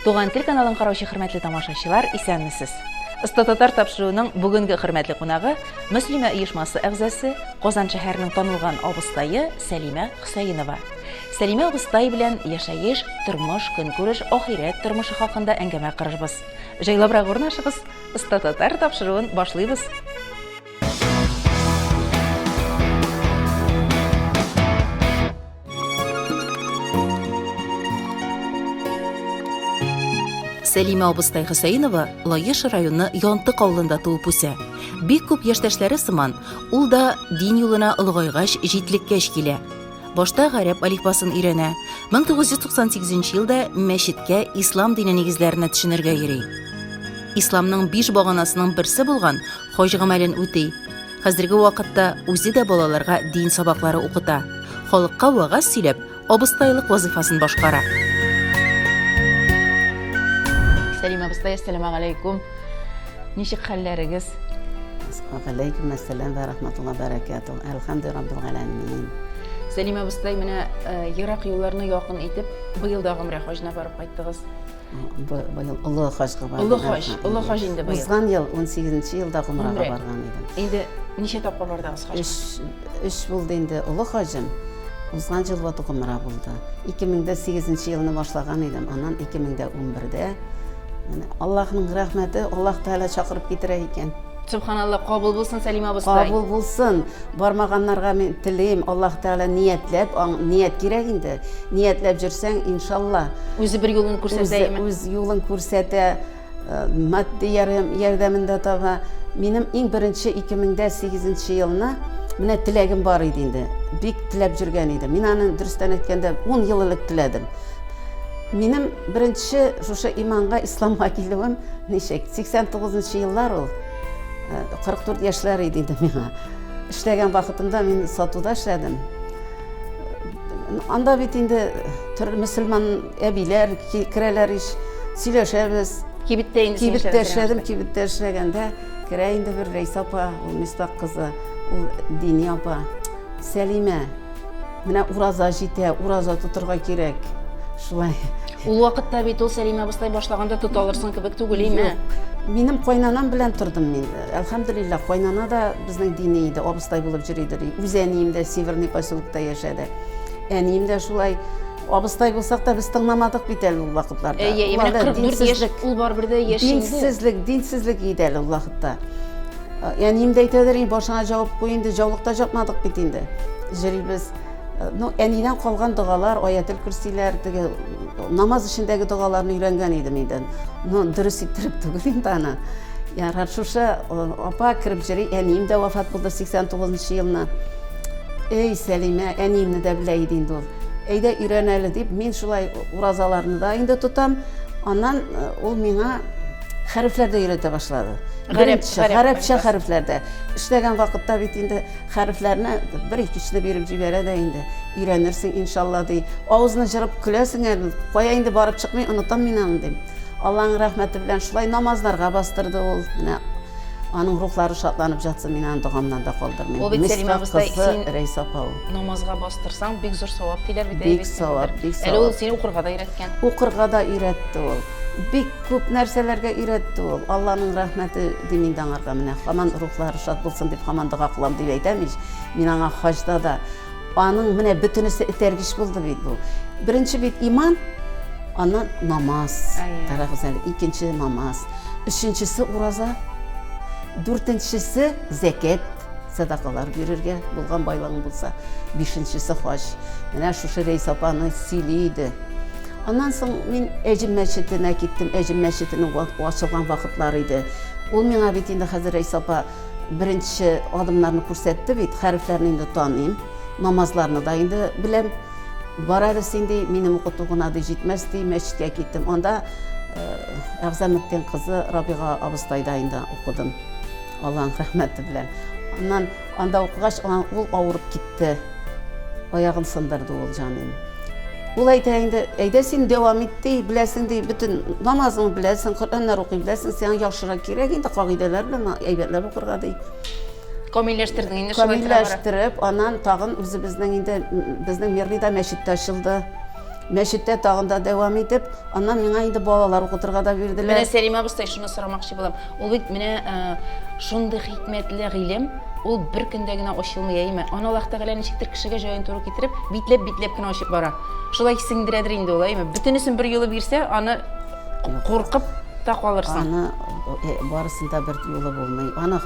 Туган тел каналын караучы хөрмәтле тамашачылар, исәнмесез. Оста татар тапшыруының бүгенге хөрмәтле кунагы Мөслимә оешмасы әгъзасы, Казан шәһәренең танылган абыстае Сәлимә Хөсәенова. Сәлимә абыстай белән яшәеш, тормыш, көнкүреш, ахирәт тормышы хакында әңгәмә корырбыз. Җайлабрак урнашыгыз, Оста татар тапшыруын башлыйбыз! Сәлимә абыстай Хөсәенова Лаеш районы Янтык авылында туып үсә. Бик күп яшьтәшләре сыман, ул да дин юлына олыгайгач, җитлеккәч килә. Башта гарәп алифбасын өйрәнә. 1998 елда мәчеткә ислам дине нигезләренә төшенергә йөри. Исламның биш баганасының берсе булган хаҗ гамәлен үти. Хәзерге вакытта үзе дә балаларга дин сабаклары укыта. Халыкка вагаз сөйләп, абыстайлык вазифасын башкара. Сәлимә абыстай, әссәламәгаләйкүм. Ничек хәлләрегез? Галәйкүм әссәләм вә рахматулла бәрәкәту. Әлхәмдү раббил галәмин. Сәлим абыстай, менә э, ерак юлларны якын итеп, быел да гомрә хаҗына барып кайттыгыз. Быел олы хаҗга бардым. Олы хаҗ, олы хаҗ инде быел. Узган ел 18 елда гомрәгә барган идем. Инде ничә тапкыр бардыгыз хаҗга? Өч, өч булды инде олы хаҗым. Узган ел вату гомрә булды. 2008 елны башлаган идем, аннан 2011дә Аллаһның рәхмәте, Аллаһ Тәгалә чакырып китерә икән. Субханалла, кабул булсын, Сәлимә абыстай. Кабул булсын. Бармаганнарга мин телим, Аллаһ Тәгалә ниятләп, ният кирәк инде. Ниятләп җөрсәң, иншалла. Үзе бер юлын күрсәтә. Үз юлын күрсәтә, э, матди ярдәмен дә таба. Минем иң беренче 2008 елны менә теләгем бар иде инде. Бик теләп җөргән идем. Мин аны дөрестән әйткәндә 10 ел элек теләдем. Минем беренче шушы иманга, исламга килүем ничек? 89 нчы еллар ул. 44 яшьләр иде инде миңа. Эшләгән вакытымда мин сатуда эшләдем. Анда бит инде төрле мөселман әбиләр керәләр ич, сөйләшәбез. Кибеттә инде Кибеттә эшләдем, кибеттә эшләгәндә керә инде бер Рәйсә апа, ул Мистак кызы, ул дини апа. Сәлимә, Менә ураза җитә, ураза тотырга кирәк. Шулай. Ул вакытта бит ул Сәлимә абыстай башлаганда тота алырсың кебек түгел име? Минем кайнанам белән тордым мин. Әлхәмдулиллах, кайнана да безнең дини иде, абыстай булып йөри иде. Үз әнием дә Северный поселокта яшәде. Әнием дә шулай абыстай булсак та без тыңламадык бит әле ул вакытларда. Әйе, менә 44 яшь ул барыбер дә яшь инде. Динсезлек, динсезлек иде әле ул вакытта. Әнием дә әйтәдер, и башыңа җавып куй инде, җаулыкта җапмадык бит инде. Җөрибез. Ну, әнидән калган догалар, аятел көрсиләр, теге намаз эчендәге догаларны өйрәнгән идем инде. Ну, дөрес иттереп түгел инде аны. Ярар, шушы апа кереп җөри, әнием дә вафат булды 89 елны. Эй, Сәлимә, әниемне дә белә иде инде ул. Әйдә өйрән әле дип, мин шулай уразаларны да инде тотам. Аннан ул миңа Хәрефләр дә өйрәтә башлады. Беренче хәрефчә хәрефләрдә. Эшләгән вакытта бит инде хәрефләрне бер икечне биреп җибәрә дә инде. Өйрәнерсең, иншалла, ди. Авызны җырып көләсең әле. Кая инде барып чыкмый, онытам мин аны, дим. Алланың рәхмәте белән шулай намазларга бастырды ул. Менә аның рухлары шатланып жатсын, мин аны догамнан да калдырмыйм. Ул бит Сәлимә абыстай, син Рәйсә апа ул. Намазга бастырсаң, бик зур савап диләр бит. Бик савап, бик савап. Әле ул сине укырга да өйрәткән. Укырга да өйрәтте ул. Бик күп нәрсәләргә өйрәтте ул. Алланың рәхмәте дим инде аңарга менә. Хаман рухлары шат булсын дип хаман дога кылам дип әйтәм ич. Мин аңа хаҗда да аның менә бөтенесе этәргеч булды бит бу. Беренче бит иман, аннан намаз, кара гүзәл, икенче намаз, өченчесе ураза, дүртенчесе зәкят, сәдакалар бирергә, булган байлыгың булса. Бишенчесе хаҗ. Менә шушы Рәйс апаны сөйли иде. Аннан соң мин Әҗем мәчетенә киттем. Әҗем мәчетенең ачылган вакытлары иде. Ул миңа бит инде хәзер Рәйс апа беренче адымнарны күрсәтте бит, хәрефләрне инде таныйм, намазларны да инде беләм. Барабыз инде, минем укыту гына ди җитмәс ди, мәчеткә киттем. Анда Әгъзаметтин кызы Рабига абыстайда инде укыдым. Алланың рәхмәте белән. Аннан анда укыгач, ул авырып китте. Аягын сындырды ул җаным. Ул әйтә инде, әйдә син дәвам ит ди, беләсең ди, бөтен намазыңны беләсең, Коръәннәр укый беләсең, сиңа яхшырак кирәк инде кагыйдәләр белән әйбәтләп укырга ди. Камилләштердең инде шулай тора. Камилләштереп, аннан тагын үзебезнең инде безнең Мерлида мәчеттә ачылды. Мәчеттә тагын да дәвам итеп, аннан миңа инде балалар укытырга да бирделәр. Менә Сәлимә абыстай шуны сорамакчы булам. Ул бит менә шундый хикмәтле гыйлем, ул бер көндә генә ачылмый, әйеме? Аны Аллаһ Тәгалә ничектер кешегә җаен туры китереп, битләп-битләп кенә ачып бара. Шулай сеңдерәдер инде ул, әйеме? Бөтенесен бер юлы бирсә, аны куркып та калырсың. Аны э, барысын да бер юлы булмый. Аны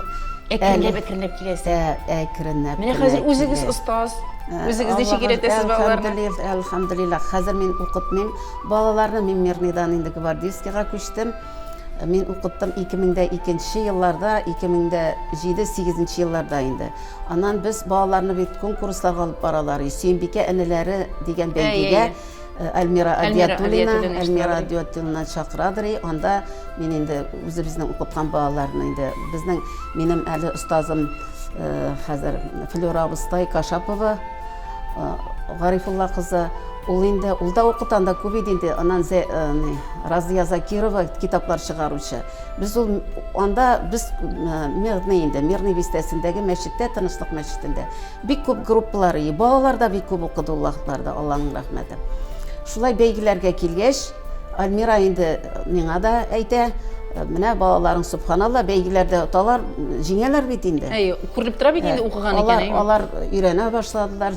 әкренләп әкренләп киләсе. Ә, әкренләп. Менә хәзер үзегез остаз. Э, Үзегез ничек өйрәтәсез балаларны? Әлхәмдулиллах. Хәзер мин укытмыйм. Балаларны мин Мирныйдан инде гвардейскийга күчтем. Мин укыттым 2002 елларда, 2007-2008 елларда инде. Аннан без балаларны бит конкурсларга алып баралар. Сөембикә әниләре дигән бәйгегә Альмира Адиатуллина, Альмира Адиатуллина чакырадыр и, анда мин инде үзебезнең укыткан балаларны инде, безнең минем әле остазым хәзер Флюра Абыстай Кашапова, Гарифулла кызы, ул инде, ул да укытан да күп иде инде, анан э, Разия Закирова китаплар чыгаручы. Без ул анда без э, Мирный инде, Мирный бистәсендәге мәчеттә, Тынычлык мәчетендә бик күп группалар, балалар да бик күп укыды Аллаһларда, Алланың рәхмәте. Шулай бәйгеләргә килгәч, Альмира инде миңа да әйтә, менә балаларың субханалла бәйгеләрдә оталар, җиңәләр бит инде. Әй, күренеп тора бит инде укыган икән. Алар, алар өйрәнә башладылар,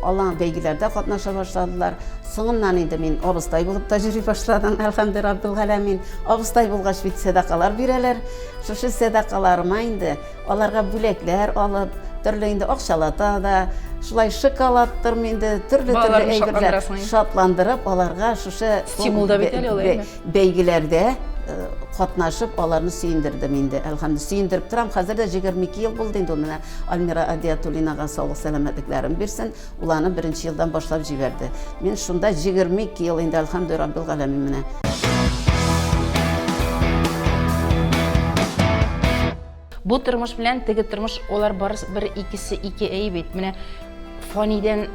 алар бәйгеләрдә катнаша башладылар. Соңыннан инде мин абыстай булып та йөри башладым, әлхәмде раббил галәмин. Абыстай булгач бит сәдакалар бирәләр. Шушы сәдакаларыма инде Аларга бүләкләр алып, төрле инде акчалата да, шулай шоколадтырмы инде, төрле-төрле әйберләр шатландырып, аларга шушы стимул да бит әле ул, әйме? Бәйгеләрдә э, катнашып, аларны сөендердем инде. Әлхәмдү сөендереп торам. Хәзер дә 22 ел булды инде ул менә Альмира Адиатуллинага саулык сәламәтлекләрен бирсен. Ул аны беренче елдан башлап җибәрде. Мин шунда 22 ел инде Әлхәмдү Раббил галәмин менә. Бу тормыш белән теге тормыш, алар барысы бер икесе ике әй бит. Менә фанидән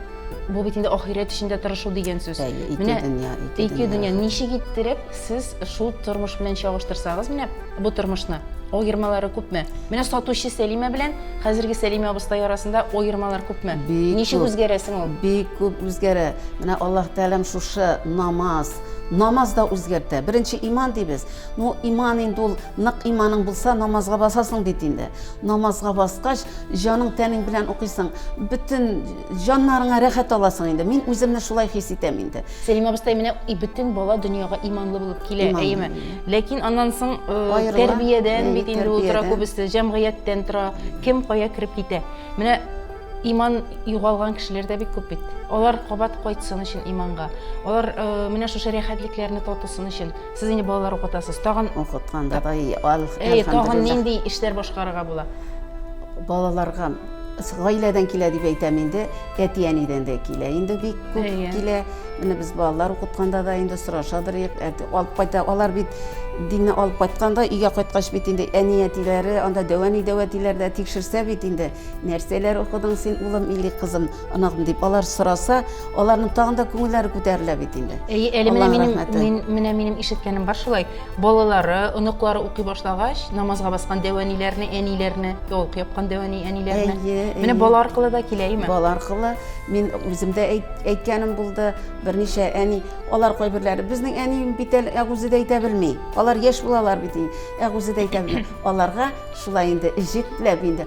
бу бит инде ахирәт өчен дә тырышу дигән сүз. Әйе, ике Менә дөнья, ике ике дөнья. дөнья ничек иттереп сез шул тормыш белән чагыштырсагыз, менә бу тормышны аермалары күпме? Менә сатучы Сәлимә белән хәзерге Сәлимә абыстай арасында аермалар күпме? Бик Ничек күп. үзгәрәсең ул? Бик күп үзгәрә. Менә Аллаһ Тәгаләм шушы намаз, намаз да үзгәртә. Беренче иман дибез. Ну, иман инде ул, нык иманың булса, намазга басасың бит инде. Намазга баскач, җаның тәнең белән укыйсың, бөтен җаннарыңа рәхәт аласың инде. Мин үземне шулай хис итәм инде. Сәлимә абыстай, менә и бөтен бала дөньяга иманлы булып килә, әйеме? Ләкин аннан соң э, тәрбиядән бит инде ул тора күбесе, җәмгыятьтән тора, кем кая кереп китә. Менә иман югалган кешеләр дә бик күп бит. Алар кабат кайтсын өчен иманга. Алар э, менә шушы рәхәтлекләрне татысын өчен. Сез инде балалар укытасыз. Тагын укытканда да Әй, тагын нинди эшләр башкарырга була? Балаларга гаиләдән килә дип әйтәм инде, әти-әнидән дә килә. Инде бик күп килә. Менә без балалар укытканда да инде сорашадыр, алып кайта. Алар бит динне алып кайтканда, өйгә кайткач бит инде әни-әтиләре, анда дәвәни-дәвәтиләр дә тикшерсә бит инде, нәрсәләр укыдың син, улым или кызым? Анагым дип алар сораса, аларның тагын да күңелләре күтәрелә бит инде. Әй, әле менә минем мин, менә минем ишеткәнем бар шулай. Балалары, оныклары укый башлагач, намазга баскан дәвәниләрне, әниләрне, яулык япкан дәвәни әниләрне. Әйе, Менә бала аркылы да килә, әйме? Бала аркылы мин үзем дә әйткәнем булды, берничә әни, алар кайберләре безнең әни бит әле ә үзе дә әйтә белми. Алар яшь булалар бит, ә үзе дә әйтә белми. Аларга шулай инде җитләп инде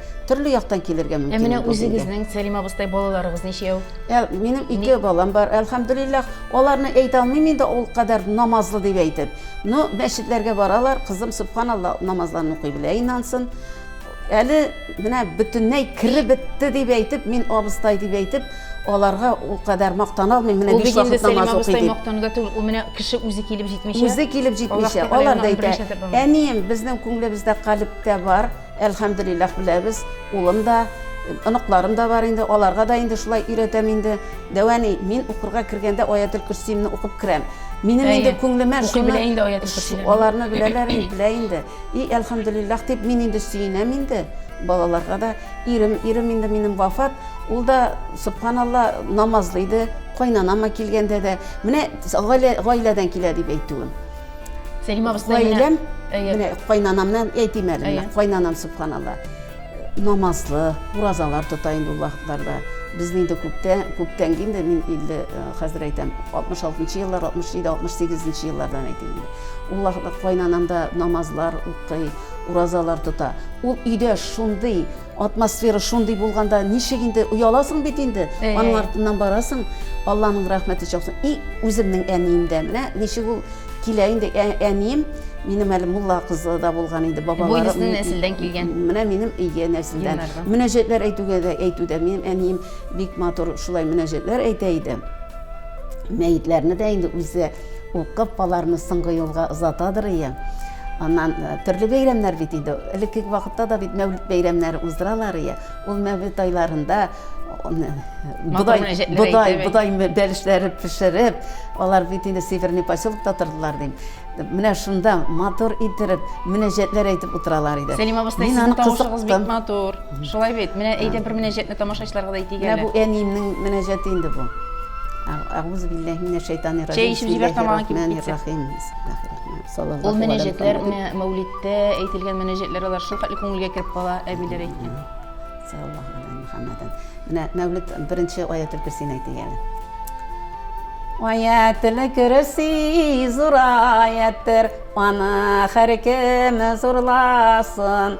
Төрле яктан килергә мөмкин. Ә менә үзегезнең, Сәлим абыстай, балаларыгыз ничәү? Ә минем ике балам бар, әлхәмдулиллах. Аларны әйтә алмыйм инде ул кадәр намазлы дип әйтеп. Но мәчетләргә баралар, кызым субханалла намазларын укый белә, инансын. Әле менә бөтенләй кереп бетте дип әйтеп, мин абыстай дип әйтеп, аларга ул кадәр мактана алмыйм. Менә биш вакыт намаз укый дип. Мактануда түгел, ул менә кеше үзе килеп җитмичә. Үзе килеп җитмичә. Алар да әйтә, әнием, безнең күңелебездә, калебтә бар. Әлхәмдулиллах беләбез, улым да, оныкларым да бар инде, аларга да инде шулай өйрәтәм инде. Дәвәни, мин укырга кергәндә Аятел Көрсиемне укып керәм. Минем инде күңелемә шуны аларны беләләр инде, белә инде. И әлхәмдулиллах дип мин инде сөенәм инде. Балаларга да ирем, ирем инде минем вафат, ул да субханалла намазлы иде, кайнанама килгәндә дә, менә гаиләдән килә дип әйтүем. Сәлимә абыстай гаиләм, менә кайнанамнан әйтим әле, менә кайнанам субханалла. Намазлы, уразалар тота инде ул вакытларда. Безне инде күптән, күптән инде мин инде хәзер әйтәм, 66 еллар, 67, 68 еллардан әйтим инде. Ул вакытта кайнанам да намазлар укый, уразалар тота. Ул өйдә шундый атмосфера шундый булганда ничек инде ояласың бит инде аның артыннан барасың алланың рәхмәте чаксын и үземнең әнием дә менә ничек ул килә инде ә, әнием минем әле мулла кызы да булган инде бабалары бу нәселдән килгән менә минем ие нәселдән мөнәҗәтләр әйтүгә дә әйтүдә минем әнием бик матур шулай мөнәҗәтләр әйтә иде мәетләрне дә инде үзе Ул кып аларны соңгы юлга озатадыр ие. Аннан э, төрле бәйрәмнәр бит инде. Элекке вакытта да бит мәүлид бәйрәмнәре уздыралар ие. Ул мәүлид айларында бодай, бодай, бодай бәлешләре пешереп, алар бит инде Северный поселокта тордылар дим. Менә шунда матур иттереп, мөнәҗәтләр әйтеп утыралар иде. Сәлимә абыстай, сезнең тавышыгыз бик матур. Шулай бит. Менә әйдә бер мөнәҗәтне тамашачыларга да әйтик әле. Менә бу әниемнең мөнәҗәте инде бу. Әгъузу биллаһи минәш шайтанир раҗим. Чәй эчеп җибәр тамагың кибеп китсә. Ул мөнәҗәтләр менә мәүлидтә әйтелгән мөнәҗәтләр алар шул хәтле күңелгә кереп кала, әбиләр әйткән. Саллаллаһу алейһи Мухаммадән. Менә мәүлид беренче аятел кирсин әйтик әле. Аятел кирси зур аяттер, аны һәркем зурласын.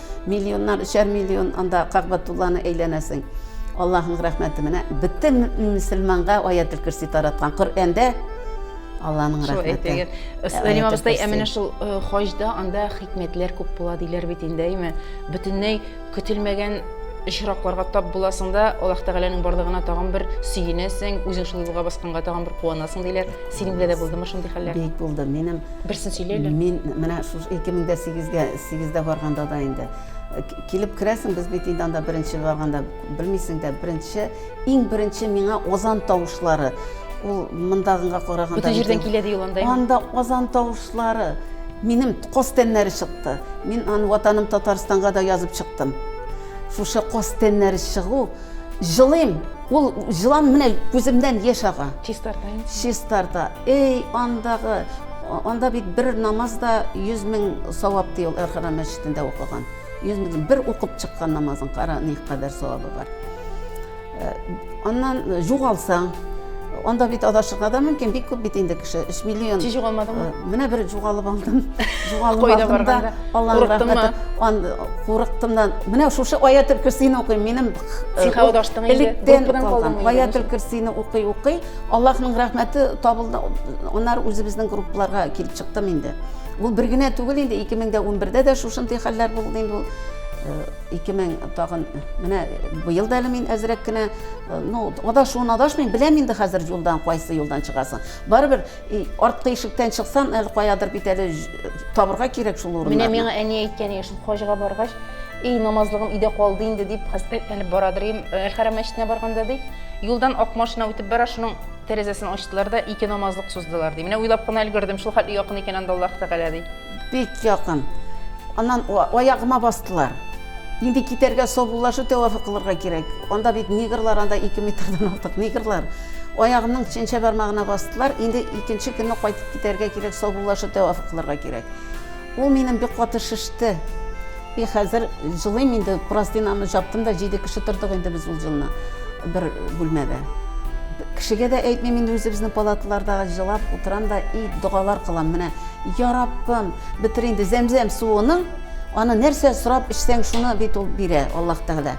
Миллионнар, өчәр миллион анда Кагбатулланы әйләнәсең. Аллаһның рәхмәте менә бөтен мөселманга аятль кирси тараткан. Коръәндә Алланың рәхмәте. Сәлим абыстай, ә менә шул э, хаҗда анда хикмәтләр күп була диләр бит инде, әйме? Бөтенләй көтелмәгән очракларга тап буласың да аллаһ тәгаләнең барлыгына тагын бер сөенәсең үзең шул юлга басканга тагын бер куанасың диләр синең белән дә булдымы шундый хәлләр бик булды минем берсен сөйлә әле мин менә шушы ике мең дә сигезгә Сигездә барганда да инде килеп керәсең, без бит инде анда беренче барганда белмисең дә, беренче, иң беренче миңа азан тавышлары. Ул мондагыга караганда Бүтән җирдән килә ди ул анда. Анда азан тавышлары. Минем кос тәннәре чыкты. Мин аны ватаным Татарстанга да язып чыктым. Шушы кос тәннәре чыгу Җылыйм. Ул җылан менә күземнән яшь ага. Чистарта. Чистарта. Эй, андагы, анда бит бер намаз да 100 мең савап ди ул Әрхана мәчетендә укыган. 100 мең бер укып чыккан намазын кара ни кадәр савабы бар. Э, аннан э, югалсаң, Анда бит адашырга да мөмкин, бик күп бит инде кеше, 3 миллион. Чи җугалмадыңмы? Э, менә бер җугалып алдым. Җугалып алдым да, Аллаһның рәхмәте. Ан курыктым да. Менә шушы аятел кирсине укыйм. Минем э, сиха адаштың инде. Группадан калдым. Аятел кирсине укый укый, Аллаһның рәхмәте табылды. Аннар үзебезнең группларга килеп чыктым инде. Бу бер генә түгел инде, 2011-дә дә шушындый хәлләр булды инде ул. 2000 э, тагын менә быел да әле мин әзрәк кенә Э, ну адашуын адашмыйм беләм инде хәзер юлдан кайсы юлдан чыгасын барыбер арткы ишектән чыксам әле каядыр бит әле э, табырга кирәк шул урыннарны менә миңа әни әйткәне шул хаҗга баргач эй намазлыгым өйдә калды инде дип хәсрәтләнеп барадыр им э, хәрәм мәчетенә барганда ди юлдан ак машина үтеп бара шуның тәрәзәсен ачтылар да ике намазлык суздылар ди менә уйлап кына өлгердем шул хәтле якын икән анда аллаһ тәгалә ди Бик якын. Аннан аягыма бастылар. Инде китәргә саубуллашу тәвафы кылырга кирәк. Анда бит негрлар, анда ике метрдан артык негрлар. Аягымның чәнчә бармагына бастылар. Инде икенче көнне кайтып китәргә кирәк, саубуллашу тәвафы кылырга кирәк. Ул минем бик каты шеште. И хәзер җылыйм инде, простынаны жаптым да, җиде кеше тордык инде без ул җылына бер бүлмәдә. Кешегә дә әйтмим инде үзебезнең палаталарда җылап утырам да и догалар кылам, менә я Раббым, бетер инде зәмзәм суының, аны нәрсә сорап эчсәң шуны бит ул бирә, Аллаһ Тәгалә.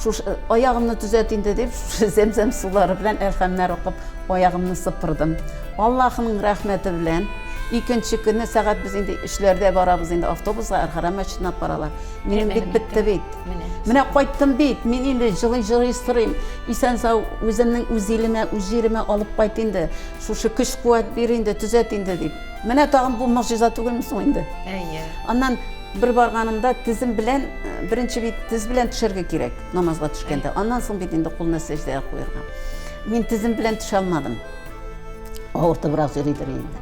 Шушы э, аягымны төзәт инде дип, шушы зәмзәм сулары белән әлхәмнәр укып аягымны сыпырдым. Аллаһының рәхмәте белән, икенче көнне сәгать без инде эшләрдә барабыз инде автобуска, Архарам мәчетенә алып баралар. Минем бит бетте бит. Менә кайттым бит, мин инде җылый-җылый сорыйм. Исән сау, үземнең үз илемә, үз җиремә алып кайт инде. Шушы көч-куәт бир инде, төзәт инде дип. Менә тагын бу могҗиза түгелме соң инде? Әйе. Аннан бер барганымда тезем белән, э, беренче бит тез белән төшәргә кирәк намазга төшкәндә. Аннан соң бит инде кулны сәҗдәгә куярга. Мин тезем белән төшә алмадым. Авыртыбрак йөридер инде.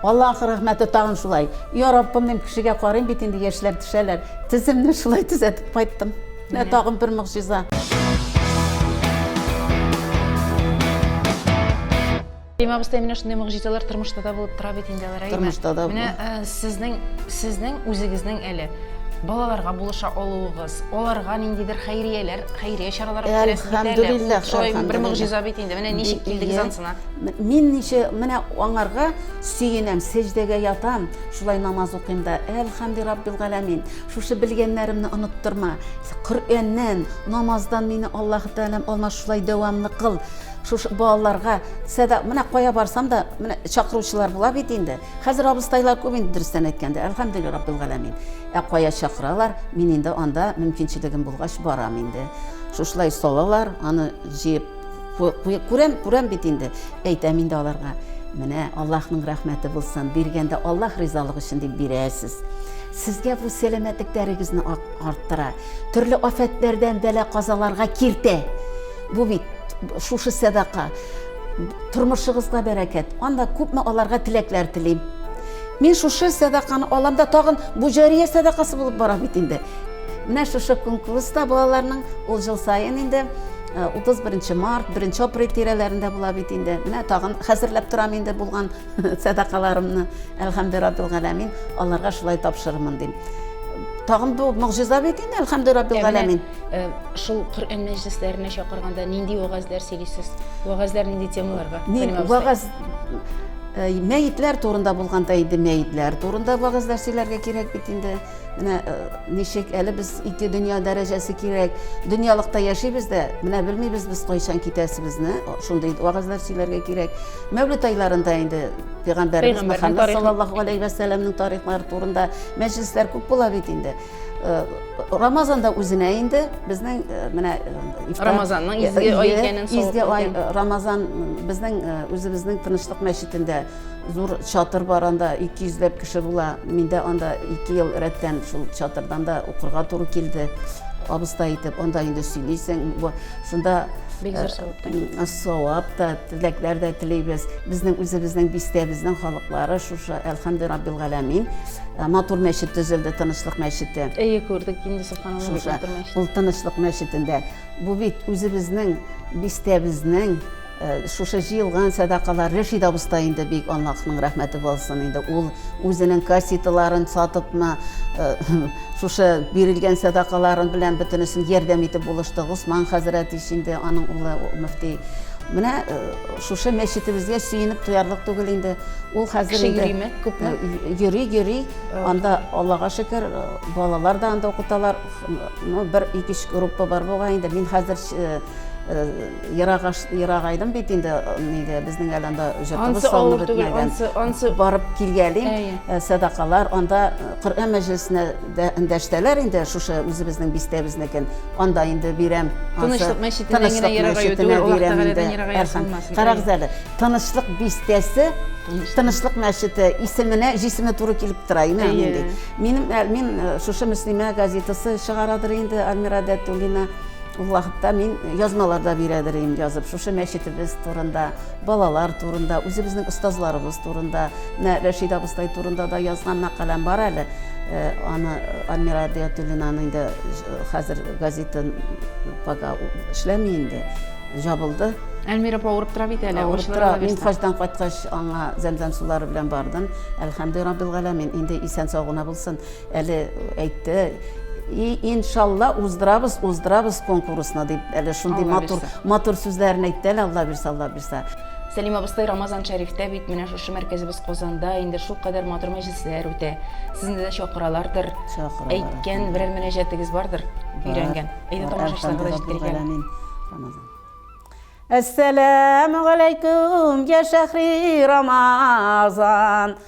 Аллаһ рәхмәте тагын шулай. Я Раббым, мин кешегә карыйм бит инде яшьләр төшәләр. Теземне шулай төзәтеп кайттым. Менә тагын бер могҗиза. Рәйма абыстай менә шундый могҗизалар тормышта да булып тора бит инде алар. Тормышта да. Менә э, сезнең сезнең үзегезнең әле балаларга булыша алуыгыз Аларга ниндидер хәйрияләр, хәйрия чаралары үткәрәсез бит әле. Әлхәмдүлилләх, шулхәмдүлилләх. Бер могҗиза бит инде. Менә ничек килдегез ансына? Мин ничә, менә аңарга сөенәм, сәҗдәгә ятам, шулай намаз укыйм да, Әлхәмди раббил галәмин, шушы белгәннәремне оныттырма, Коръәннән, намаздан мине Аллаһы Тәгаләм алмас, шулай дәвамлы кыл. Шушы балаларга сәда, менә кая барсам да, менә чакыручылар була бит инде. Хәзер абыстайлар күп инде, дөрестән әйткәндә, Әлхәмдүлилләх раббил галәмин. Ә кая чакыралар, мин инде анда мөмкинчелегем булгач барам инде. Шушылай салалар, аны җыеп күрәм, күрәм бит инде. Әйтәм инде аларга, менә Аллаһның рәхмәте булсын, биргәндә Аллаһ ризалыгы өчен дип бирәсез. Сезгә бу сәламәтлекләрегезне арттыра, төрле афәтләрдән бәла казаларга киртә. Бу бит шушы сәдака. Тормышыгызга бәрәкәт. Анда күпме аларга теләкләр телим. Мин шушы сәдаканы алам да тагын бу җәрия сәдакасы булып бара бит инде. Менә шушы конкурста балаларның ул жыл саен инде 31 э, март, 1 апрель тирәләрендә була бит инде. Менә тагын хәзерләп торам инде булган сәдакаларымны. Әлхәмдү раббил галәмин, аларга шулай тапшырырмын дим. Тагын бу могҗиза бит инде, әлхәмдү раббил галәмин. Э, шул Коръән мәҗлесләренә чакырганда нинди вагазлар сөйлисез? Вагазлар нинди темаларга? Вагаз Э, мәетләр турында булганда инде мәетләр турында вәгазьләр сөйләргә кирәк бит инде менә э, ничек әле без ике дөнья дәрәҗәсе кирәк дөньялыкта яшибез дә менә белмибез без кайчан китәсебезне шундый вәгазьләр сөйләргә кирәк мәүлид айларында инде пәйгамбәребез мөхәммәд саллаллаху алейхи вәсәләмнең тарихлары турында мәҗлесләр күп була бит инде Э, рамазанда үзенә инде безнең э, менә э, рамазанның изге ай икәнен изге ай рамазан безнең үзебезнең тынычлык мәчетендә зур чатыр бар анда 200 йөзләп кеше була мин дә анда ике ел рәттән шул чатырдан да укырга туры килде абыстай итеп анда инде сөйлисең шунда бик зур савап савап та теләкләр дә телибез безнең үзебезнең бистә безнең халыклары шушы әлхәмде раббил галәмин Матур мәчет төзелде, Тынычлык мәчете. Әйе, күрдек инде Субханалла бик матур мәчет. Ул Тынычлык мәчетендә. Бу бит үзебезнең бистәбезнең э, шушы җыелган сәдакалар Рәшид абыстай инде бик Аллаһның рәхмәте булсын инде. Ул үзенең кассеталарын сатыпмы, э, шушы бирелгән сәдакаларын белән бөтенесен ярдәм итеп булышты. Госман хәзрәт ич инде аның улы мөфти. Менә э, Шушы мәчетебезгә сөенеп туярлык түгел инде. Ул хәзер Кеше инде йөриме? Күпме? Э, йөри, йөри. Анда Аллага шөкер, э, балалар да анда укыталар. Ну, бер ике үч группа бар булган инде. Мин хәзер э, ерак ерак айдым бит инде нигә безнең әле анда җортыбыз салынып бетмәгән. Барып килгәлим, сәдакалар, анда Коръән мәҗлесенә Дәштәләр инде шушы үзебезнең бистәбезнекен, анда инде бирәм. Тынычлык мәчетеннән генә ерак юк, Аллаһ Тәгаләдән ерак булмасын. Карагыз әле, Тынычлык бистәсе, Тынычлык мәчете исеменә җисеме туры килеп тора, иман инде. Минем мин шушы Мөслимә газетасы чыгарадыр инде Альмира Дәтуллина. Ул вакытта мин язмаларда бирәдер идем язып, шушы мәчетебез турында. Балалар турында, үзебезнең остазларыбыз турында, менә Рәшид абыстай турында да язган мәкаләм бар әле. Э, аны Альмира Диятуллинаның инде хәзер газетын пока эшләми инде, жабылды. Әлмира апа авырып тора бит әле. Авырып тора. Мин хаҗдан кайткач аңа зәмзәм сулары белән бардым. Әлхәмдү раббил галәмин. Инде исән сау гына булсын. Әле әйтте, и иншалла уздырабыз уздырабыз конкурсны дип әле шундый матур матур сүзләрен әйтте әле алла бирса алла бирса Сәлим абыстай Рамазан Шәрифтә бит менә шушы мәркәзебез Казанда инде шул кадәр матур мәҗлесләр үтә. Сезне дә чакыралардыр. Чакыралар. Әйткән берәр мөнәҗәтегез бардыр? Өйрәнгән. Әйдә тамашачыларга да җиткергән. Рамазан. Әссәләмү алейкум, я шәхри Рамазан.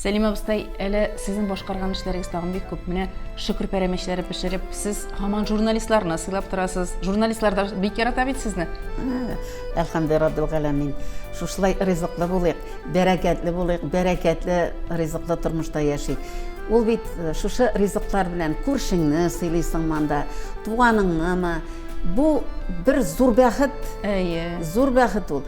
Сәлим абыстай, әле сезнең башкарган эшләрегез тагын бик күп. Менә шөкер пәрәмәчләре пешереп, сез һаман журналистларны сыйлап торасыз. Журналистлар да бик ярата бит сезне. Әлхәмдә Раббил галәмин. Шушылай ризыклы булыйк, бәрәкәтле булыйк, бәрәкәтле ризыклы тормышта яшик. Ул бит э, шушы ризыклар белән күршеңне сыйлыйсың манда, туганыңнымы, Бу бер зур бәхет. Әйе. Зур бәхет ул.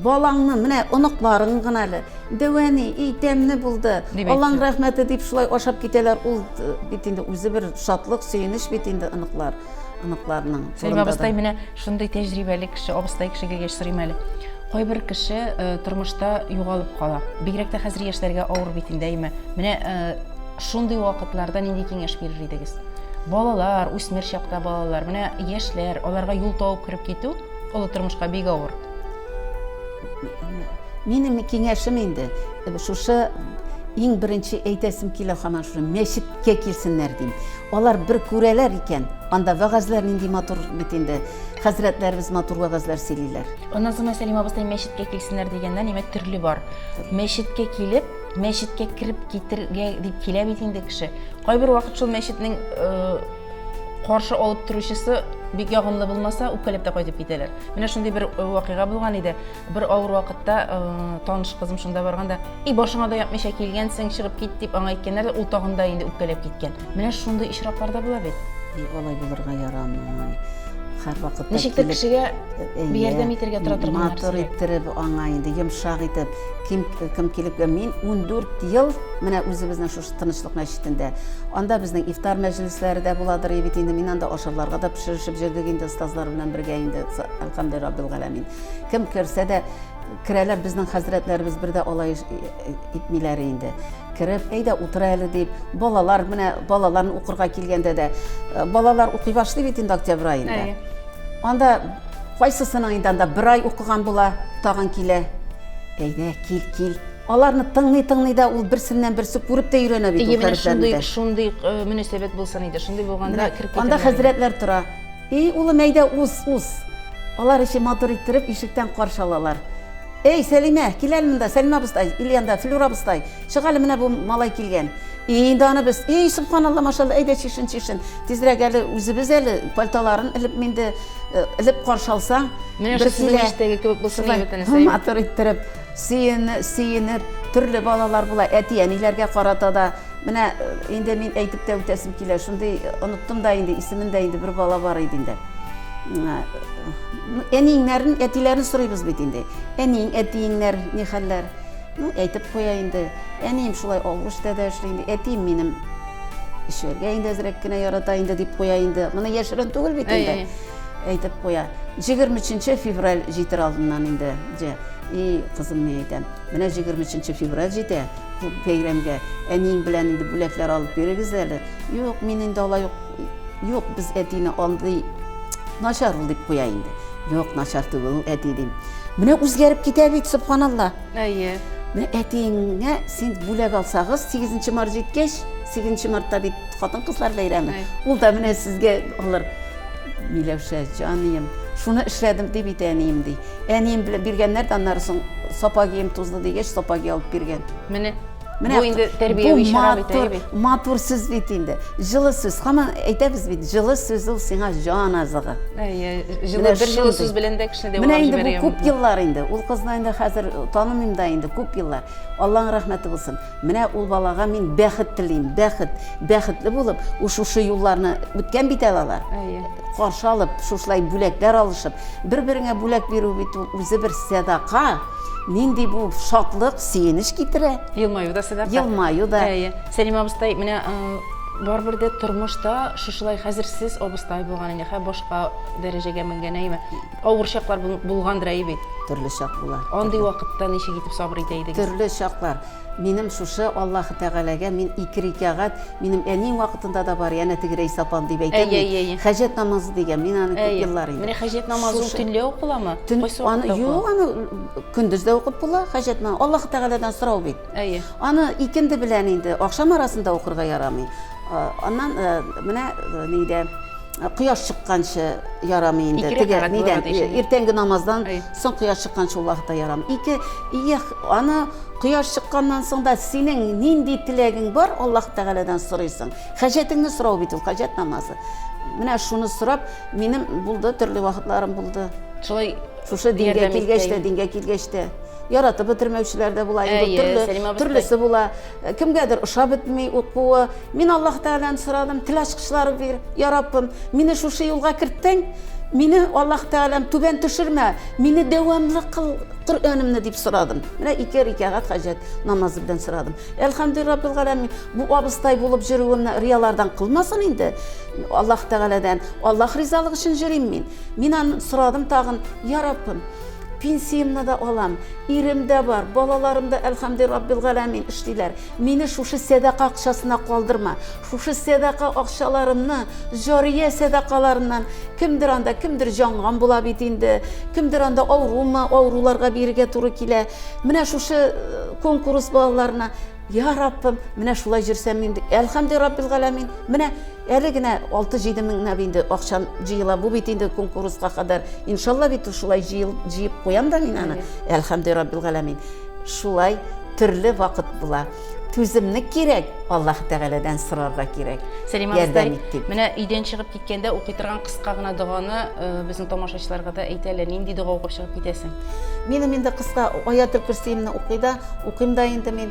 Балаңны, менә оныкларың гына әле. Дәвәни, и тәмне булды. Аллаң рәхмәте дип шулай ашап китәләр. Ул э, бит инде үзе бер шатлык, сөенеч бит инде оныклар оныкларның. Сәлимә абыстай менә шундый тәҗрибәле кеше, абыстай кеше килгәч сорыйм әле. Кайбер кеше э, тормышта югалып кала. Бигрәк тә хәзер яшьләргә авыр бит инде, әйме? Менә э, Шундый вакытларда нинди киңәш бирер идегез? Балалар, үсмер чакта балалар, менә яшьләр, аларга юл табып кереп китү олы тормышка бик авыр. Минем киңәшем инде шушы иң беренче әйтәсем килә хаман шуны мәчеткә килсеннәр дим алар бер күрәләр икән анда вәгазьләр нинди матур бит инде хәзрәтләребез матур вәгазьләр сөйлиләр назыма сәлимә абыстай мәчеткә килсеннәр дигәндә нимә төрле бар мәчеткә килеп Мәчеткә кереп китергә дип килә бит инде кеше. Кайбер вакыт шул мәчетнең каршы алып торучысы бик ягымлы булмаса, үпкәләп тә кайтып китәләр. Менә шундый бер вакыйга булган иде. Бер авыр вакытта таныш кызым шунда барганда, "И башыңа да япмыйча килгәнсең, чыгып кит" дип аңа әйткәннәр, ул тагында инде үпкәләп киткән. Менә шундый очраклар да була бит. Алай булырга ярамый. Һәрвакытта Ничектер кешегә бер ярдәм итәргә тора торган нәрсә. Матур иттереп аңа инде йомшак итеп, ким кем килеп мин 14 ел менә үзебезнең шушы тынычлык мәчетендә. Анда безнең ифтар мәҗлесләре дә буладыр бит инде. Мин анда ашарларга да пешеришеп җөрдек инде остазлар белән бергә инде. Әлхәмдүлилләһ раббил галәмин. Кем керсә дә керәләр безнең хәзрәтләребез бер дә алай итмиләр инде. Кереп, әйдә утыр әле дип, балалар менә балаларны укырга килгәндә дә, э, балалар укый башлый бит инде октябрь аенда. Анда кайсысының инде анда бер ай укыган була, тагын килә. Әйдә, кил, кил. Аларны тыңлый тыңлый да ул берсеннән берсе күреп тә өйрәнә бит ул хәрефләрне. Шундый шундый э, мөнәсәбәт булсын иде. Шундый булганда киркәтә. Анда хәзрәтләр тора. И, улым, әйдә, уз, уз! Алар эче матур иттереп ишектән каршы алалар. Эй, Сәлимә, кил әле монда, Сәлимә абыстай, Ильянда, Флюра абыстай, чык әле, менә бу малай килгән. И, инде аны без, и, сөбханалла, машалла, әйдә, чишен, чишен. Тизрәк әле, үзебез әле, пальтоларын элеп минде, элеп каршы алсаң. Менә шул сезнең иштәге кебек булсын иде бөтенесе, әйбәт. Матур иттереп. Сөене, сөенеп, төрле балалар була, әти-әниләргә карата да. Менә инде мин әйтеп тә үтәсем килә, шундый оныттым да инде, исемен дә инде бер бала бар иде инде. Әниеңнәрен, әтиләрен сорыйбыз бит инде. Әниең, әтиеңнәр ни хәлләр? Ну, әйтеп куя инде. Әнием шулай Алгыштә дә эшли инде. Әтием минем эшләргә инде әзрәк кенә ярата инде дип куя инде. Моны яшерен түгел бит инде. Әйтеп куя. 23 февраль җитер алдыннан инде. Җә, и кызым, мин әйтәм, менә җигерме өченче февраль җитә, бу бәйрәмгә әниең белән инде бүләкләр алып бирегез әле. Юк, мин инде алай ук, юк, без әтине андый начар ул дип куя инде. Юк, начар түгел ул әти дим. Менә үзгәреп китә бит, субханалла. Әйе. Менә әтиеңә син бүләк алсагыз, 8 март җиткәч, 8 мартта бит хатын-кызлар бәйрәме. Ул да менә сезгә алыр. Миләүшә, җанием, шуны эшләдем, дип әйтә әнием, ди. Әнием белән биргәннәр дә аннары соң сапогием тузды дигәч, сапоги алып биргән. Менә Менә бу инде тәрбияви чара бит, матур, бит. Матур сүз бит инде. Җылы сүз. Һаман әйтәбез бит, җылы сүз ул сиңа җан азыгы. Әйе, җылы бер җылы сүз белән дә кешене дәвалап җибәрә. Менә инде бу күп еллар инде. Ул кызны инде хәзер танымыйм да инде күп еллар. Алланың рәхмәте булсын. Менә ул балага мин бәхет телим, бәхет, бәхетле булып, ул шушы юлларны үткән бит әле алар. Әйе. Каршы алып, шушылай бүләкләр алышып, бер-береңә бүләк бирү бит ул үзе бер сәдака. Нинди бу шатлык, сөенеч китерә. Елмаю да сәдака. Елмаю да. Әйе. Сәлим абыстай, менә барыбер дә тормышта шушылай хәзер сез абыстай булган инде, хә башка дәрәҗәгә менгән, әйеме? Авыр чаклар булгандыр әй бит. Төрле чак була. Андый вакытта ничек итеп сабыр итә идегез? Төрле чаклар. Минем шушы Аллаһ Тәгаләгә мин ике рикәгать, минем әни вакытында да бар, янә теге рәйс апам дип әйтәм. Әй, әй, Хаҗәт намазы дигән, мин аны күп еллар инде. Менә хаҗәт намазы ул төнлә укыламы? Кайсы вакытта? Юк, аны көндез дә укып була, хаҗәт намазы. Аллаһ Тәгаләдән сорау бит. Әйе. Аны икенде белән инде, ахшам арасында укырга ярамый. Аннан менә нидә кояш чыкканчы ярамый инде теге нидән иртәнге намаздан соң кояш чыкканчы ул вакытта ярамый ике ия аны кояш чыкканнан соң да синең нинди теләгең бар аллаһ тәгаләдән сорыйсың хәҗәтеңне сорау бит ул хәҗәт намазы менә шуны сорап минем булды төрле вакытларым булды шулай шушы дингә килгәч тә дингә килгәч тә яратып бетермәүчеләр дә була инде төрле төрлесе була Кемгәдер ошап бетми ут куы. Мин Аллаһ Тәгаләне сорадым, тел ачкычлары бир, я Раббым, мине шушы юлга керттең, мине, Аллаһ Тәгаләм, түбән төшермә, мине дәвамлы кыл Коръәнемне, дип сорадым. Менә ике рикәгать хаҗәт намазы белән сорадым. Әлхәмдүлилләһ Раббил галәмин, бу абыстай булып йөрүемне риялардан кылмасын инде. Аллаһ Тәгаләдән, Аллаһ ризалыгы өчен йөрим мин. Мин аны сорадым тагын, я Раббым, пенсиямне дә алам, Ирем дә бар, балаларым да, әлхәмди раббил галәмин, эшлиләр. Мине шушы сәдака акчасына калдырма. Шушы сәдака акчаларымны, җария сәдакаларыннан, кемдер анда, кемдер җанган була бит инде, кемдер анда авырумы, авыруларга бирергә туры килә. Менә шушы конкурс балаларына, йа Раббым, менә шулай җөрсәм инде, әлхәмди раббил галәмин, менә, Әле генә алты-җиде меңнәп инде акчам җыела. Бу бит инде конкурска кадәр. Иншалла бит ул шулай җыел, җыеп куям да мин аны. Әлхәмде раббил галәмин. Шулай төрле вакыт була. Түземлек кирәк, Аллаһ Тәгаләдән сорарга кирәк. Сәлимә абыстай, Ярдәм ит дип. менә өйдән чыгып киткәндә укый торган кыска гына доганы э, безнең тамашачыларга да әйт әле. Нинди дога укып чыгып китәсең? Минем инде кыска Аятел көрсиемне укый да, укыйм да инде мин.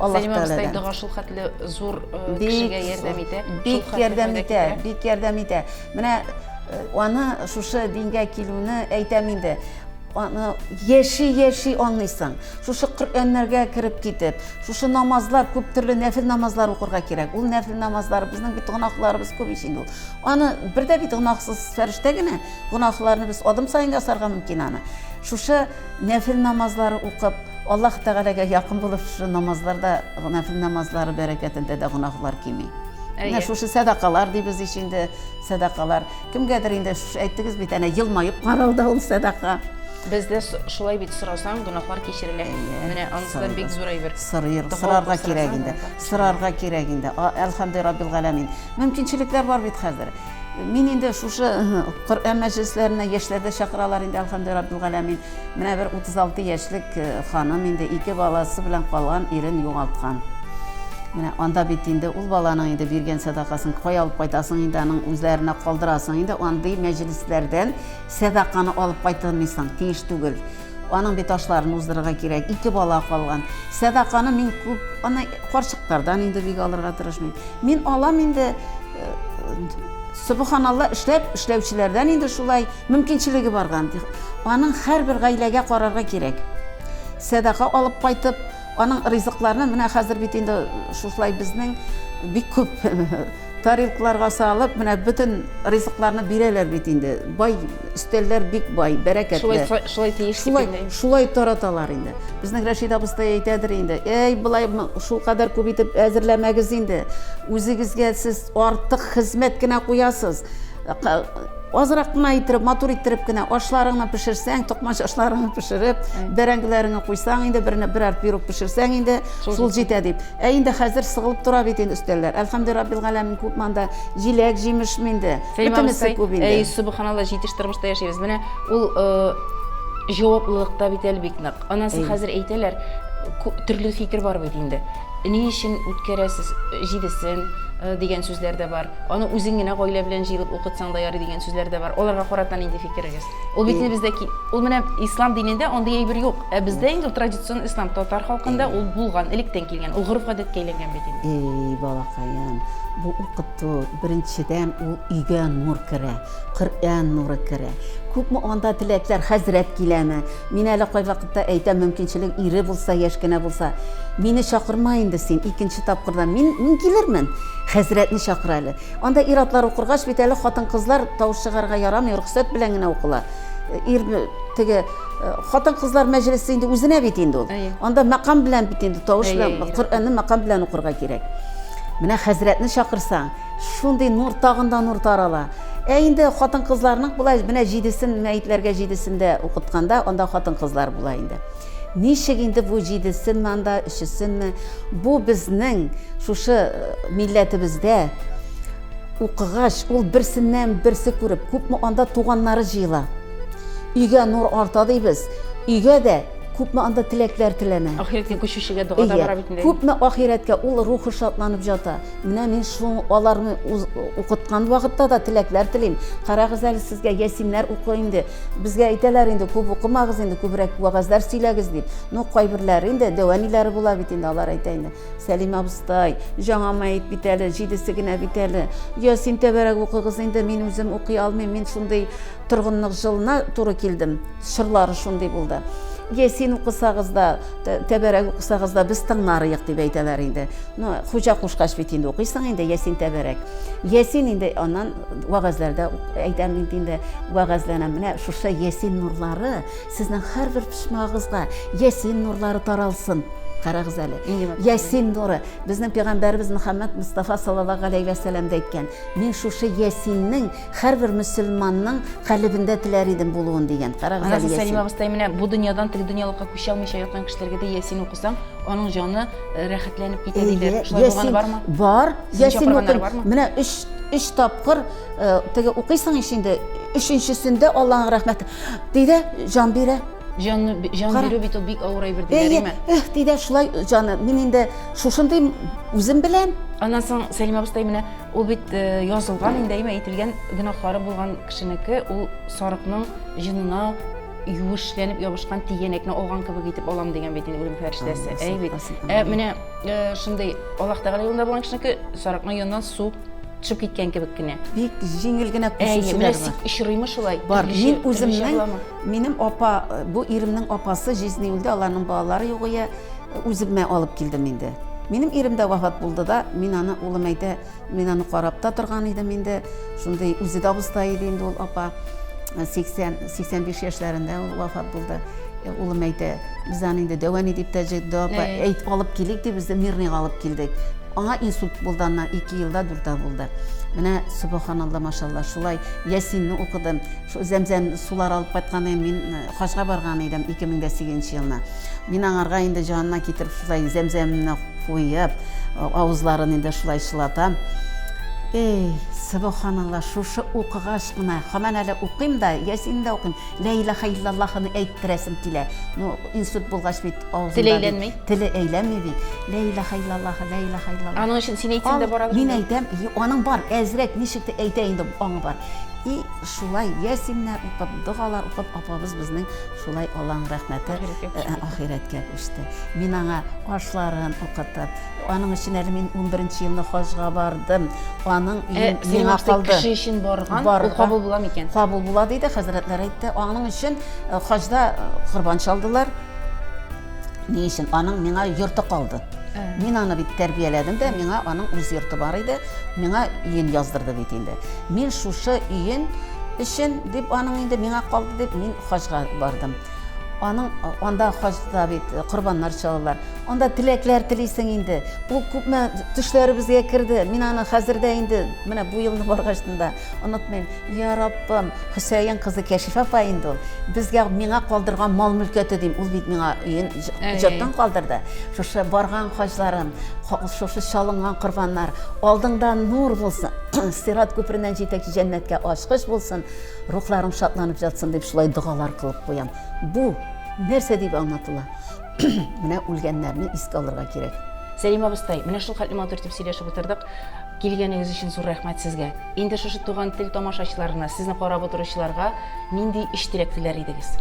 Сәлимә абыстай дога шул хәтле зур э, кешегә ярдәм итә. Бик ярдәм итә, бик ярдәм итә. Менә э, аны шушы дингә килүне әйтәм инде. Аны яши яши аңлыйсың. Шушы Коръәннәргә кереп китеп, шушы намазлар күп төрле нәфил намазлар укырга кирәк. Ул нәфил намазлар безнең бит гынахларыбыз күп ич инде ул. Аны бер дә бит гынахсыз фәрештә генә гынахларны без адым саен ясарга мөмкин аны. Шушы Нәфел намазлары укып, Аллаһ Тәгаләгә якын булып, шушы намазларда, нәфел намазлары бәрәкәтендә дә гөнаһлар кими. Менә шушы сәдакалар дибез ич инде, сәдакалар. Кемгәдер инде шушы әйттегез бит, әнә елмаеп карау да ул сәдака. Бездә шулай бит, сорасаң, гөнаһлар кичерелә. Менә анысы да бик зур әйбер. Сорыйр, сорарга кирәк инде. Сорарга кирәк инде. Әлхәмде раббил галәмин. Мөмкинчелекләр бар бит хәзер. Мин инде шушы Коръән мәҗлесләренә яшьләрдә чакыралар инде, әлхәмдү раббил галәмин. Менә бер 36 яшьлек э, ханым инде ике баласы белән калган ирен югалткан. Менә анда бит инде ул баланың инде биргән сәдакасын кая алып кайтасың инде аның үзләренә калдырасың инде андый мәҗлесләрдән сәдаканы алып кайтылмыйсың, тиеш түгел. Аның бит ашларын уздырырга кирәк, ике бала калган. Сәдаканы мин күп, аны карчыктардан инде бик алырга тырышмыйм. Мин алам инде э, Субханалла эшләп эшләүчеләрдән инде шулай мөмкинчелеге барган. Аның һәрбер гаиләгә карарга кирәк. Сәдака алып кайтып, аның ризыкларны менә хәзер бит инде шушылай безнең бик күп Тарелкаларга салып, менә бөтен ризыкларны бирәләр бит инде. Бай, өстәлләр бик бай, бәрәкәтле. Шулай, шулай тиеш дип Шулай, инде. шулай тараталар инде. Безнең Рәшид абыстай әйтәдер инде, әй, болай шулкадәр күп итеп әзерләмәгез инде, үзегезгә сез артык хезмәт кенә куясыз. Азрак кына иттереп, матур иттереп кенә ашларыңны пешерсәң, токмач ашларыңны пешереп, бәрәңгеләреңне куйсаң инде, берне берәр пирог пешерсәң инде, шул җитә дип. Ә инде хәзер сыгылып тора бит инде өстәлләр. Әлхәмде раббил галәмин, күп монда җиләк, җимешме инде, бөтенесе күп инде. Әй, сөбханалла, җитеш тормышта яшибез. Менә ул җаваплылык та бит әле бик нык. Анасы хәзер әйтәләр, төрле фикер бар бит инде. Ни өчен үткәрәсез җидесен, дигән сүзләр дә бар. Аны үзең генә гаилә белән җыелып укытсаң да ярый, дигән сүзләр дә бар. Аларга карата нинди фикерегез? Ул бит инде бездә ул менә ислам динендә андый әйбер юк. Ә бездә инде ул традицион ислам, татар халкында ул булган, электән килгән. Ул гореф-гадәткә әйләнгән бит инде. Әй, балакаем, бу укыту, беренчедән, ул өйгә нур керә. Коръән нуры керә. Күпме анда теләкләр, хәзрәт киләме? Мин әле кайвакытта әйтәм, мөмкинчелек ире булса, яшь кенә булса, мине чакырма инде син, икенче тапкырдан мин, мин килермен, хәзрәтне чакыр әле. Анда ир-атлар укыргач бит әле хатын-кызлар тавыш чыгарырга ярамый, рөхсәт белән генә укыла. Ир теге хатын-кызлар мәҗлесе инде үзенә бит инде ул. Анда мәкам белән бит инде тавыш белән, Коръәнне мәкам белән укырга кирәк. Менә хәзрәтне чакырсаң, Шундый нур, тагын да нур тарала. Ә инде хатын-кызларның болай менә җидесен мәетләргә җидесен дә укытканда, анда хатын-кызлар була инде. Ничек инде бу җидесенме анда, өчесенме? Бу безнең шушы э, милләтебездә укыгач, ул берсеннән берсе күреп, күпме анда туганнары җыела. Өйгә нур арта дибез. Өйгә дә күпме анда теләкләр теләнә. Ахирәткә күчүчегә дога да бара бит инде. Күпме ахирәткә ул рухы шатланып ята. Менә мин шул аларны укыткан вакытта да теләкләр телим. Карагыз әле сезгә ясиннәр укы инде. Безгә әйтәләр инде, күп укымагыз инде, күбрәк вәгазьләр сөйләгез дип. Ну, кайберләре инде дәваниләре була бит инде, алар әйтә инде. Сәлим абыстай, жаңа мәет бит әле, җидесе генә бит әле. Ясин тәбәрәк укыгыз инде, мин үзем укый алмыйм, мин шундый Торгынлык җылына туры килдем. Чорлары шундый булды. Ясин укысагыз да, тәбәрәк укысагыз да, без тыңларыек, дип әйтәләр инде. Ну, хуҗа кушкач бит инде укыйсың инде, ясин тәбәрәк. Ясин инде аннан вәгазьләрдә әйтәм бит инде, вәгазьләнәм. Менә шушы ясин нурлары сезнең һәрбер почмагыгызга ясин нурлары таралсын. Карагыз әле. Ясин нуры. Безнең пәйгамбәребез Мөхәммәд Мустафа саллаллаһу галәйһи вә сәлләм дә әйткән. Мин шушы ясиннең Һәрбер мөселманның калебендә теләр идем булуын дигән. Карагыз әле Ясин. Сәлимә абыстай менә бу дөньядан теге дөньялыкка күчә алмыйча яткан кешеләргә дә Ясин укысаң, аның җаны э, рәхәтләнеп китә диләр. Шулай булганы бармы? Бар. Ясин укый. Менә 3 3 тапкыр э, теге укыйсың ич инде. Өченчесендә Аллаһның рәхмәте. Диде, җан бирә. Җан җан бирү бит ул бик авыр әйбер диләр, әйме? Эх, диде, шулай җаны. Мин инде шушындый үзем белән. Аннан соң Сәлимә абыстай менә Ул бит язылган инде, әйме әйтелгән гөнаһлары булган кешенеке, ул сарыкның җынына юешләнеп ябышкан тигәнәкне алган кебек итеп алам дигән бит инде үлем фәрештәсе. Әй бит. Ә менә шундый Аллаһ Тәгалә юлында булган кешенеке сарыкның яныннан су төшеп киткән кебек кенә. Бик җиңел генә күчүчеләр бар. Очрыймы шулай? Бар. Мин үземнең, минем апа, бу иремнең апасы җизни үлде, аларның балалары югыя. Үземә алып килдем инде. Минем ирем дә вафат булды да, мин аны, улым әйтә, мин аны карап та торган идем инде. Шундый үзе дә абыста иде инде ул апа. 80-85 яшьләрендә ул вафат булды. Э, улым әйтә, без аны инде дәвәни дип тә җыйды апа. Э. Әйт, алып килик дип без дә мирныйга алып килдек. Аңа инсульт булды аннан 2 елда дүртә булды. Менә субханалла машалла шулай Ясинне укыдым. Шул зәмзәм сулар алып кайткан мин э, Хаҗга барган идем 2008 нче елны. Мин аңарга инде җанына китереп шулай зәмзәмне куеп, авызларын инде шулай чылатам. Эй, субханалла, шушы укыгач кына, һаман әле укыйм да, ясин дә укыйм, лә илаха иллаллахыны әйттерәсем килә. Ну, инсульт булгач бит авызында теле әйләнми. Теле әйләнми бит. Лә илаха иллаллаха, лә илаха иллаллаха. Аның өчен син әйтсәң дә барабыз. Мин әйтәм, аның бар, әзрәк ничек әйтә инде, аңы бар. И Шулай ясиннәр укып, догалар укып, апабыз безнең шулай Алланың рәхмәте ахирәткә күчте. Мин аңа ашларын укытып, аның өчен әле мин унберенче елны хаҗга бардым. Аның өе миңа калды. Кеше өчен барган, ул кабул була микән? Кабул була, диде, хәзрәтләр әйтте. Аның өчен хаҗда корбан чалдылар. Ни өчен? Аның миңа йорты калды. Ә. Мин аны бит тәрбияләдем дә, миңа аның үз йорты бар иде, миңа өен яздырды бит инде. Мин шушы өен өчен дип аның инде миңа калды дип мин хаҗга бардым. Аның анда хаҗда бит э, корбаннар чалалар. Анда теләкләр телисең инде. Ул күпме төшләребезгә керде. Мин аны хәзер дә инде менә бу елны баргач та онытмыйм. Я Раббым, Хөсәен кызы Кәшифә апа инде ул. Безгә, миңа калдырган мал-мөлкәте дим. Ул бит миңа өен җаттан калдырды. Шушы барган хаҗларым, шушы чалынган корбаннар, алдыңда нур булсын, Сират күпереннән җитәкче җәннәткә ачкыч булсын, рухларың шатланып ятсын, дип шулай догалар кылып куям. Бу нәрсә дип аңлатыла? Менә үлгәннәрне искә алырга кирәк. Сәлимә абыстай, менә шулхәтле матур итеп сөйләшеп утырдык. Килгәнегез өчен зур рәхмәт сезгә! Инде шушы Туган тел тамашачыларына, сезне карап утыручыларга нинди өч теләк теләр идегез?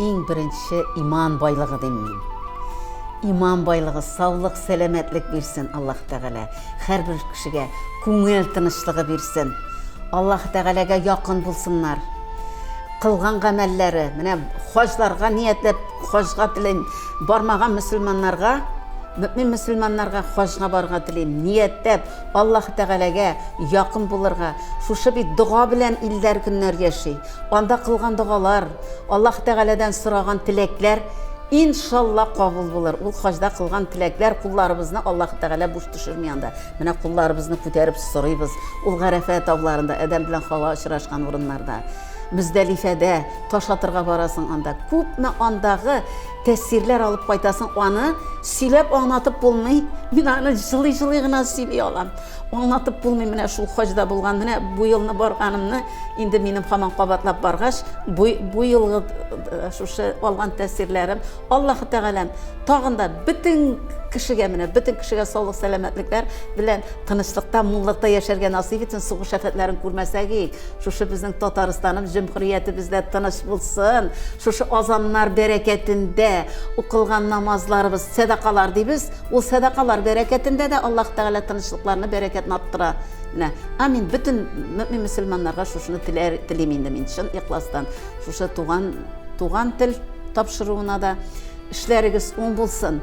Иң беренче иман байлыгы дим мин. Иман байлыгы, саулык, сәламәтлек бирсен Аллаһ Тәгалә. Һәрбер кешегә күңел тынычлыгы бирсен. Аллаһ Тәгаләгә якын булсыннар. Кылган гамәлләре, менә хаҗларга ниятләп, Хаҗга телим бармаган мөселманнарга, мөэмин мөселманнарга хаҗга барырга телим, ниятләп, Аллаһы Тәгаләгә якын булырга. Шушы бит дога белән илләр көннәр яши. Анда кылган догалар, Аллаһы Тәгаләдән сораган теләкләр, иншалла, кабул булыр. Ул хаҗда кылган теләкләр, кулларыбызны Аллаһы Тәгалә буш төшерми анда. Менә кулларыбызны күтәреп сорыйбыз, ул Гарәфә тауларында, Адәм белән Хава очрашкан урыннарда. Мөздәлифәдә таш атырга барасың анда, күпме андагы тәэсирләр алып кайтасың, аны сөйләп аңнатып булмый. Мин аны җылый-җылый гына сөйли алам. Аңнатып булмый менә шул хаҗда булган, менә бу елны барганымны, инде минем хаман кабатлап баргач, бу, бу елгы э, шушы алган тәэсирләрем, Аллаһы Тәгаләм тагын да бөтен кешегә менә бөтен кешегә саулык сәламәтлекләр белән тынычлыкта муллыкта яшәргә насыйп итсен сугыш афәтләрен күрмәсәгик Шушы безнең Татарстаным җөмһүриятебездә тыныч булсын, шушы азаннар бәрәкәтендә укылган намазларыбыз, сәдакалар дибез, ул сәдакалар бәрәкәтендә дә Аллаһ Тәгалә тынычлыкларны, бәрәкәтне арттыра. Менә, амин, бөтен мөмин мөселманнарга шушыны теләр, телим инде мин чын ихластан. Шушы туган, туган тел тапшыруына да эшләрегез уң булсын.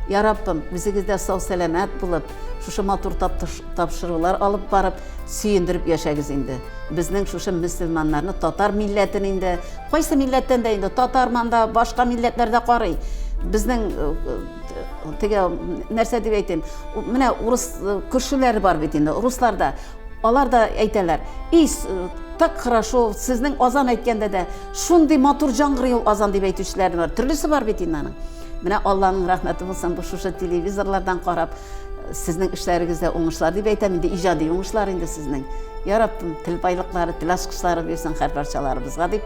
Я Раббым, үзегез дә сау-сәламәт булып, Шушы матур тапшырулар алып барып, сөендереп яшәгез инде. Безнең шушы мөселманнарны, татар милләтен инде, кайсы милләттән дә инде, татарман да, башка милләтләр дә карый. Безнең теге нәрсә дип әйтим, менә урыс күршеләре бар бит инде, руслар да. Алар да әйтәләр, и, так хорошо, сезнең азан әйткәндә дә шундый матур җангырый ул азан дип әйтүчеләр бар. Төрлесе бар бит инде аның. Менә Алланың рәхмәте булсын, бу шушы телевизорлардан карап, сезнең эшләрегездә уңышлар дип әйтәм инде, иҗади уңышлар инде сезнең. Я Раббым, тел байлыклары, тел ачкычлары бирсен һәр барчаларыбызга дип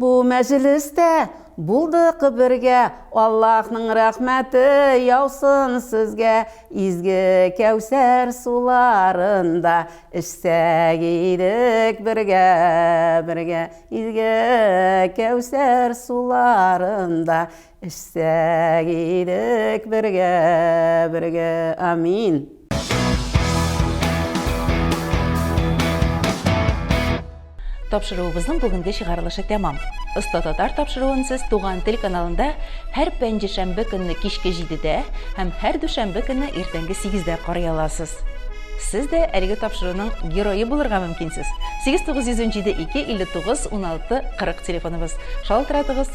Бу мәҗлестә булдык бергә, Аллаһның рәхмәте яусын сезгә, Изге Кәүсәр суларында эчсәк идек бергә, бергә, Изге Кәүсәр суларында Эчсәк идек бергә, бергә, амин! Тапшыруыбызның бүгенге чыгарылышы тәмам. Оста татар тапшыруын сез Туган тел каналында һәр пәнҗешәмбе көнне кичке 7-дә һәм һәр дүшәмбе көнне иртәнге 8-дә карый аласыз. Сез дә әлеге тапшыруның герое булырга мөмкинсез. 8907 259 16 40 телефоныбыз. Шалтыратыгыз.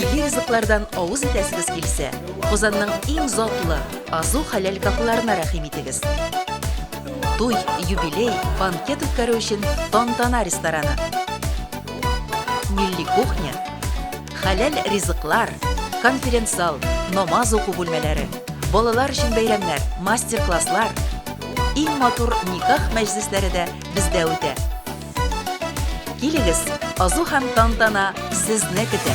Милли ризыклардан авыз итәсегез килсә, Казанның иң затлы Азу хәләл кафеларына рәхим итегез. Туй, юбилей, банкет үткәрү өчен Тантана рестораны. Милли кухня, хәләл ризыклар, конференц-зал, намаз уку бүлмәләре, балалар өчен бәйрәмнәр, мастер-класслар, иң матур никах мәҗлесләре дә бездә үтә. Килегез, азу һәм тантана сезне көтә!